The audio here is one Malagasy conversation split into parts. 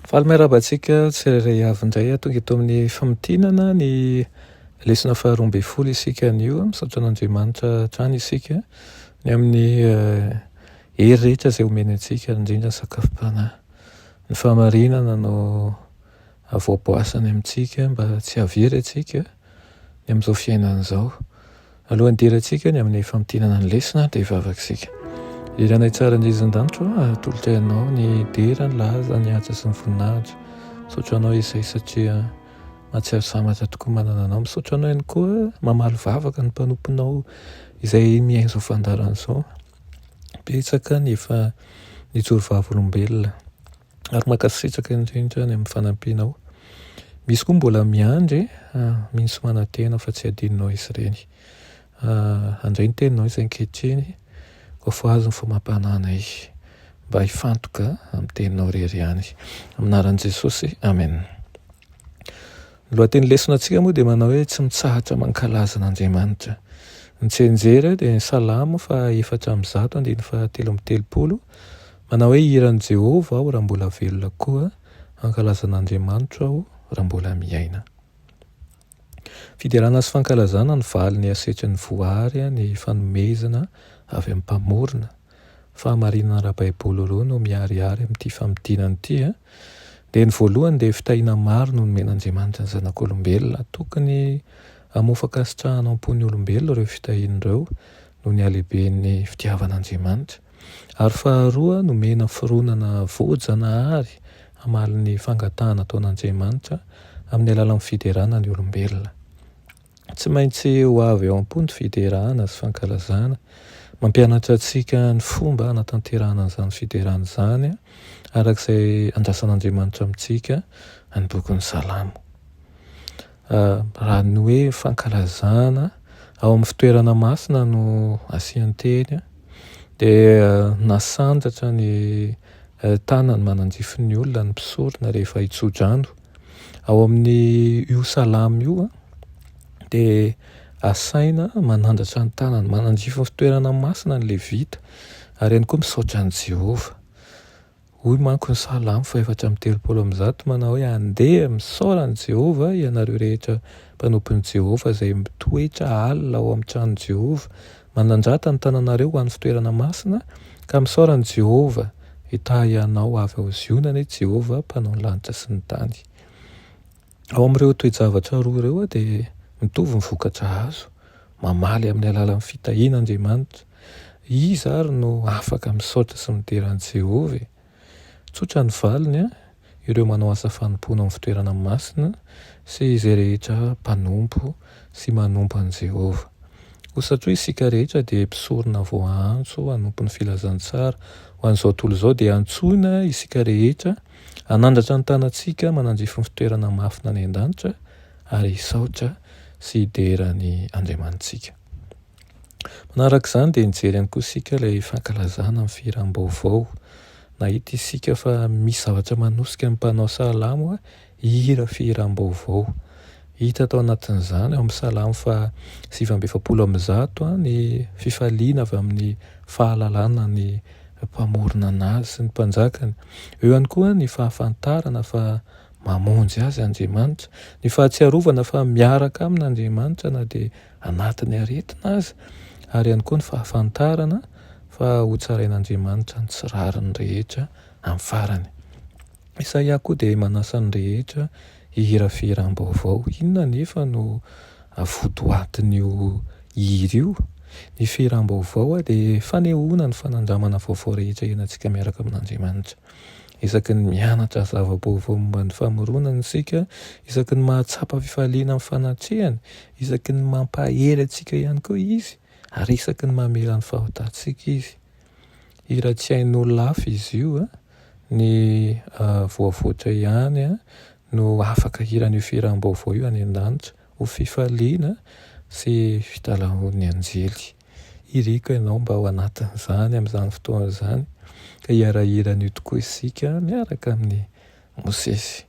Faly miarahaba antsika tsirairay avy indray tonga eto amin'ny famintinana ny lesona faharoa ambin'ny folo isika anio. Misaotra an'Andriamanitra hatrany isika ny amin'ny eh, hery rehetra izay omeny antsika, indrindra ny sakafom-panahy. Ny fahamarinana no avoaboasany amintsika mba tsy hahavery antsika ny amin'izao fiainana izao. Alohan'ny hidirantsika ny amin'ny famintinana ny lesona dia hivavaka isika. Ry Ranay tsara indrindra izay an-danitra ô, atolotra Ianao ny dera, ny laza, ny asa sy ny voninahitra. Misaotra Anao Iesay satria mahatsiaro sambatra tokoa manana Anao. Misaotra Anao ihany koa mamaly vavaka ny mpanomponao izay miaina izao fandaharana izao. Betsaka ny efa nijoro vavolombelona. ary mankasitraka indrindra any amin'ny fanampianao. Misy koa mbola miandry misy manantena fa tsy adinonao izy ireny. Handray ny teninao izay ankehitriny koa voahazo ny famampananay mba hifantoka amin'ny teninao rery ihany. Aminaran'i Jesosy, Amen. Ny lohateny lesona antsika moa dia manao hoe tsy mitsahatra mankalaza an'Andriamanitra. Ny tsenjery dia ny salamo fa efatra amin'ny zato andiny fa telo amin'ny telopolo Manao hoe hiran'i Jehovah aho raha mbola velona koa hankalaza an'Andriamanitro aho raha mbola miaina. Fiderana sy fankalazana ny valiny hasetry ny voary ny fanomezana avy amin'ny Mpamorona. Fahamarinana ara-baiboly roa no miharihary amin'ity famintinana ity. Dia ny voalohany dia fitahiana maro no nomen'Andriamanitra ny zanak'olombelona. Tokony hamoa fankasitrahana am-pon'ny olombelona ireo fitahiany ireo noho ny halehiben'ny fitiavan'Andriamanitra. ary faharoa nomena fironana voajanahary hamaly ny fangatahana ataon'Andriamanitra amin'ny alalan'ny fiderana ny olombelona. Tsy maintsy ho avy ao am-po ny fiderana sy fankalazana. Mampianatra antsika ny fomba hanatanterahana an'izany fiderana izany araka izay andrasan'Andriamanitra amintsika ny bokin'ny Salamo. Raha ny hoe fankalazana ao amin'ny fitoerana masina no asian-teny dia nasandratra ny tanan'ny mananjifin'ny olona ny mpisorona rehefa hitso-drano. Ao amin'io salamo io dia asaina manandratra ny tanany mananjify ny fitoerana masina ny levita ary ihany koa misaotra an'i Jehovah. Hoy manko ny Salamo fahefatra amby telopolo amby zato manao hoe, Andeha, misaora an'i Jehovah, ianareo rehetra mpanompon'i Jehovah izay mitoetra alina ao amin'ny tranon'i Jehovah. Manandrata ny tananareo ho an'ny fitoerana masina, ka misaora an'i Jehovah hitahy anao avy ao Ziona anie Jehovah, Mpanao ny lanitra sy ny tany. Ao amin'ireo toe-javatra roa ireo dia mitovy ny vokatra azo, mamaly amin'ny alalan'ny fitahiana Andriamanitra, Iza àry no afaka misaotra sy midera an'i Jehovah e? Tsotra ny valiny, Ireo manao asa fanompoana amin'ny fitoerana masina sy izay rehetra mpanompo sy manompo an'i Jehovah. Koa satria isika rehetra dia mpisorona voaantso hanompo ny filazantsara ho an'izao tontolo izao, dia antsoina isika rehetra hanandratra ny tanantsika manandrify ny fitoerana mafina any an-danitra ary hisaotra sy hidera an'i Andriamanitsika. Manaraka izany dia nijery ihany koa isika ilay fankalazana ny fihiram-baovao. Nahita isika fa misy zavatra manosika ny mpanao salamo hihira fihiram-baovao. Hita tao anatin'izany ao amin'ny salamo faha sivy amby efapolo amby zato ny fifaliana avy amin'ny fahalalana ny Mpamorona an'azy sy ny Mpanjakany. Eo ihany koa ny fahafantarana fa mamonjy azy Andriamanitra, ny fahatsiarovana fa miaraka amin'Andriamanitra na dia anatin'ny aretina aza, ary ihany koa ny fahafantarana fa hotsarain'Andriamanitra ny tsy rariny rehetra amin'ny farany. Isaia koa dia manasa ny rehetra hihira fihiram-baovao. Inona anefa no votoatin'io hira io? Ny fihiram-baovao dia fanehoana ny fanandramana vaovao rehetra iainantsika miaraka amin'Andriamanitra. Isaky ny mianatra zava-baovao momba ny famoronana isika, isaky ny mahatsapa fifaliana amin'ny fanatrehany, isaky ny mampahery antsika ihany koa Izy, ary isaky ny mamela ny fahotantsika Izy. Hira tsy hain'olona-hafa izy io, ny voavoatra ihany no afaka hiran'io fihiram-baovao io any an-danitra. Ho fifaliana sy fitalahoan'ny anjely. Iriko ianao mba ho anatin'izany amin'izany fotoana izany, ka hiara-hihira an'io tokoa isika miaraka amin'i Mosesy.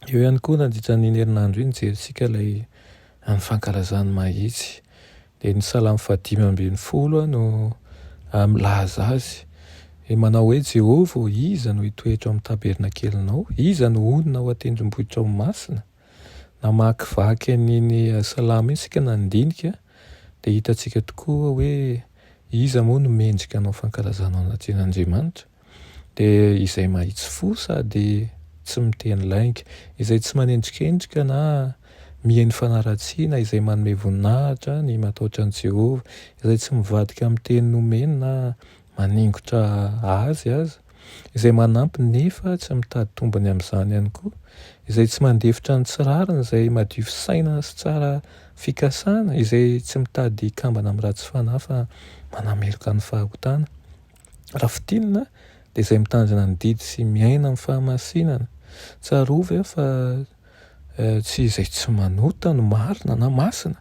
Eo ihany koa, nandritra an'iny herinandro iny, nijerintsika ilay an'ny fankalazan'ny mahitsy. Dia ny salamo fahadimy ambin'ny folo no milaza azy. Dia manao hoe, Jehovah ô, iza no hitoetra ao amin'ny tabernakelinao? Iza no honina ao an-tendrombohitrao masina? namakivaky an'iny Salamo iny isika na nidinika dia hitantsika tokoa hoe iza moa no mendrika hanao fankalazana ny Andriamanitra dia izay mahitsy fo sady tsy miteny lainga, izay tsy manendrikendrika na mihaino fanaratsiana, izay manome voninahitra ny matahotra an'i Jehovah, izay tsy mivadika amin'ny teny nomeny na maningotra azy aza, izay manampy nefa tsy mitady tombony amin'izany ihany koa, izay tsy mandefitra ny tsy rariny, izay madio fisainana sy tsara fikasana, izay tsy mitady hikambana amin'ny ratsy fanahy fa manameloka ny fahagotana. Raha fintinina dia izay mitandrina ny didy sy miaina amin'ny fahamasinana. Tsarovy aho fa tsy izay tsy manota no marina na masina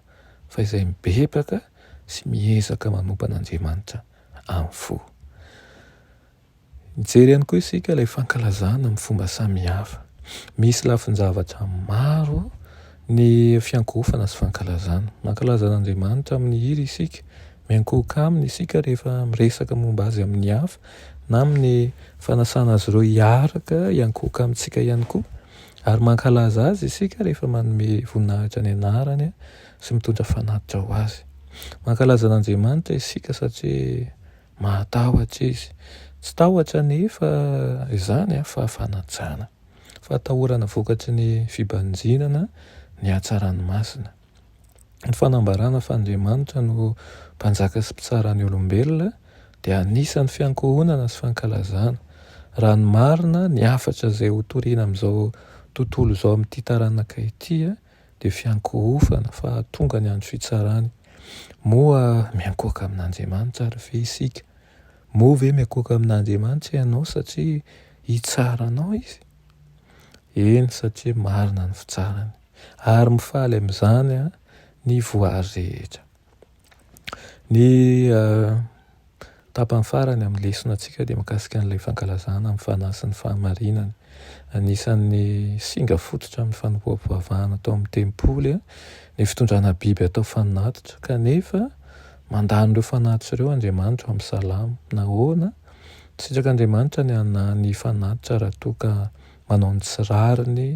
fa izay mibebaka sy miezaka manompa an'Andriamanitra. amin'ny fo. Mijery ihany koa isika ilay fankalazana amin'ny fomba samihafa. Misy lafin-javatra maro ny fiankohofana sy fankalazana. Mankalaza an'Andriamanitra amin'ny hira isika, miankohoka aminy isika rehefa miresaka momba azy amin'ny hafa na amin'ny fanasana azy ireo hiaraka hiankohoka amintsika ihany koa ary mankalaza azy isika rehefa manome voninahitra ny anarany. sy mitondra fanatitra ho azy. Mankalaza an'Andriamanitra isika satria mahatahotra izy. Tsy tahotra anefa izany fa fanajana, fahatahorana vokatry ny fibanjinana ny hatsarany masina. Ny fanambarana fa Andriamanitra no mpanjaka sy mpitsara ny olombelona dia anisan'ny fiankohonana sy fankalazana. Raha ny marina, ny hafatra izay hotorina amin'izao tontolo izao amin'ity taranaka ity, dia fiankohofana fa tonga ny andro fitsarany. Moa miankohoka amin'Andriamanitra ary ve isika? Moa ve miankohoka amin'Andriamanitra ianao satria hitsara anao izy? Eny, satria marina ny fitsarany. Ary mifaly amin'izany ny voary rehetra. Ny tapany farany amin'ny lesonatsika dia mikasika an'ilay fankalazana ny fanahy sy ny fahamarinana. Anisan'ny singa fototra amin'ny fanompoam-pivavahana tao amin'ny tempoly ny fitondrana biby atao fanatitra, kanefa mandà an'ireo fanatitra ireo Andriamanitra ao amin'ny salamo. Nahoana? Nisitraka Andriamanitra ny hanahy ny fanatitra raha toa ka manao ny tsy rariny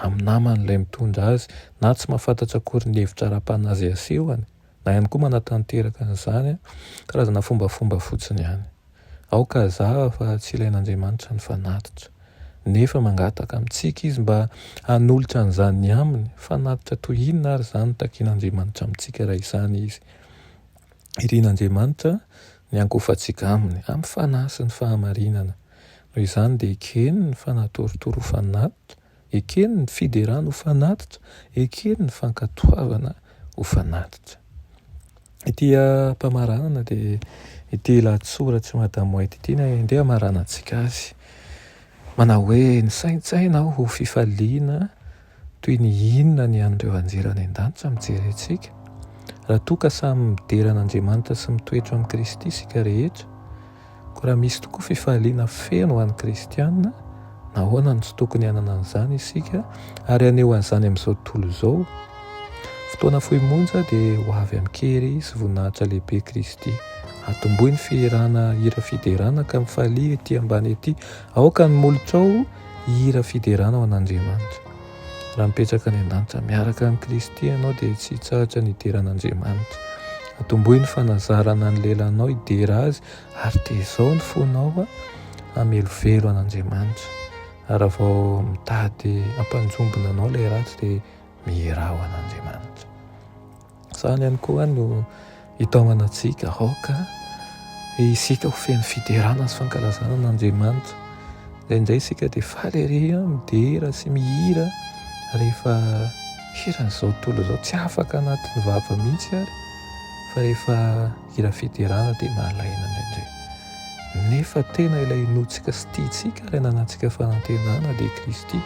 amin'ny namany ilay mitondra azy na tsy mahafantatra akory ny hevitra ara-panahy asehony na ihany koa manatanteraka an'izany, karazana fombafomba fotsiny ihany. Aoka hazava fa tsy ilain'Andriamanitra ny fanatitra. Nefa mangataka amintsika Izy mba hanolotra an'izany ny aminy, fanatitra toy inona ary izany no takian'Andriamanitra amintsika raha izany Izy? irin'Andriamanitra ny hangofantsika Aminy amin'ny fanahy sy ny fahamarinana. Noho izany dia ekeny ny fanatorotoro ho fanatitra, ekeny ny fiderana ho fanatitra, ekeny ny fankatoavana ho fanatitra. Ity am-pamaranana dia ity lahatsoratr'i Madame White ity no indray hamaranantsika azy. Manao hoe, Nisaintsaina aho ho fifaliana Toy ny inona ny an'ireo anjely any an-danitra mijery antsika? Raha toa ka samy midera an'Andriamanitra sy mitoetra amin'i Kristy isika rehetra, koa raha misy tokoa fifaliana feno ho an'ny kristiana, nahoana no tsy tokony hanana an'izany isika ary haneho an'izany amin'izao tontolo izao? Fotoana fohy monja dia ho avy amin-kery sy voninahitra lehibe Kristy. Atomboy ny fihirana hira fiderana ka mifalia ety ambany ety Aoka ny molotrao hihira fiderana ho an'Andriamanitra. Raha mipetraka any an-danitra miaraka amin'i Kristy ianao dia tsy hitsahatra ny hidera an'Andriamanitra. Atombohy ny fanazarana ny lelanao hidera Azy ary tezao ny fonao hamelovelo an'Andriamanitra. Ary raha vao mitady hampanjombona anao ilay ratsy dia mihirà ho an'Andriamanitra. Izany ihany koa no hitaomana antsika aoka isika ho feno fiderana sy fankalazana an'Andriamanitra. Indraindray isika dia faly ery midera sy mihira rehefa hiran'izao tontolo izao tsy afaka anatin'ny vava mihitsy ary fa rehefa hira fiderana dia malaina indraindray. Nefa tena ilay inoantsika sy tiantsika ilay nanantsika fanantenana dia Kristy.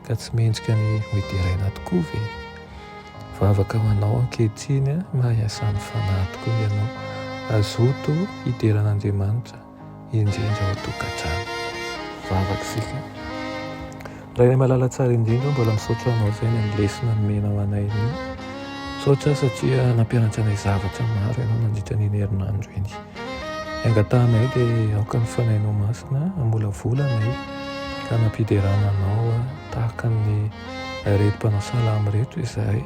Ka tsy mendrika ny ho deraina tokoa ve? Vavaka ho anao ankehitriny a, mahay asan'ny Fanahy tokoa ianao. Azoto hidera an'Andriamanitra indrindra ao tokantrano. Vavaka isika. Rainay malala tsara indrindra, mbola misaotra anao izay ny amin'ny lesona nomenao anay anio. Misaotra satria nampianatra anay zavatra maro ianao nandritra an'iny herinandro iny. Angatahanay dia aoka ny Fanahinao Masina hamolavola anay ka hanam-piderana Anao tahaka ny ireto mpanao salamo ireto izahay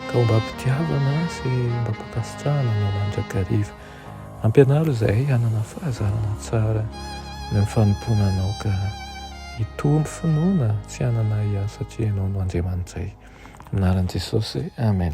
ka homba am-pitiavana sy homba am-pankasitrahana Anao mandrakariva. Ampianaro izahay hanana fahazarana tsara noho ny fanompoana Anao ka hitombo finoana tsy hanana ahiahy satria Ianao no Andriamanitray. Amin'ny anaran'i Jesosy, Amen.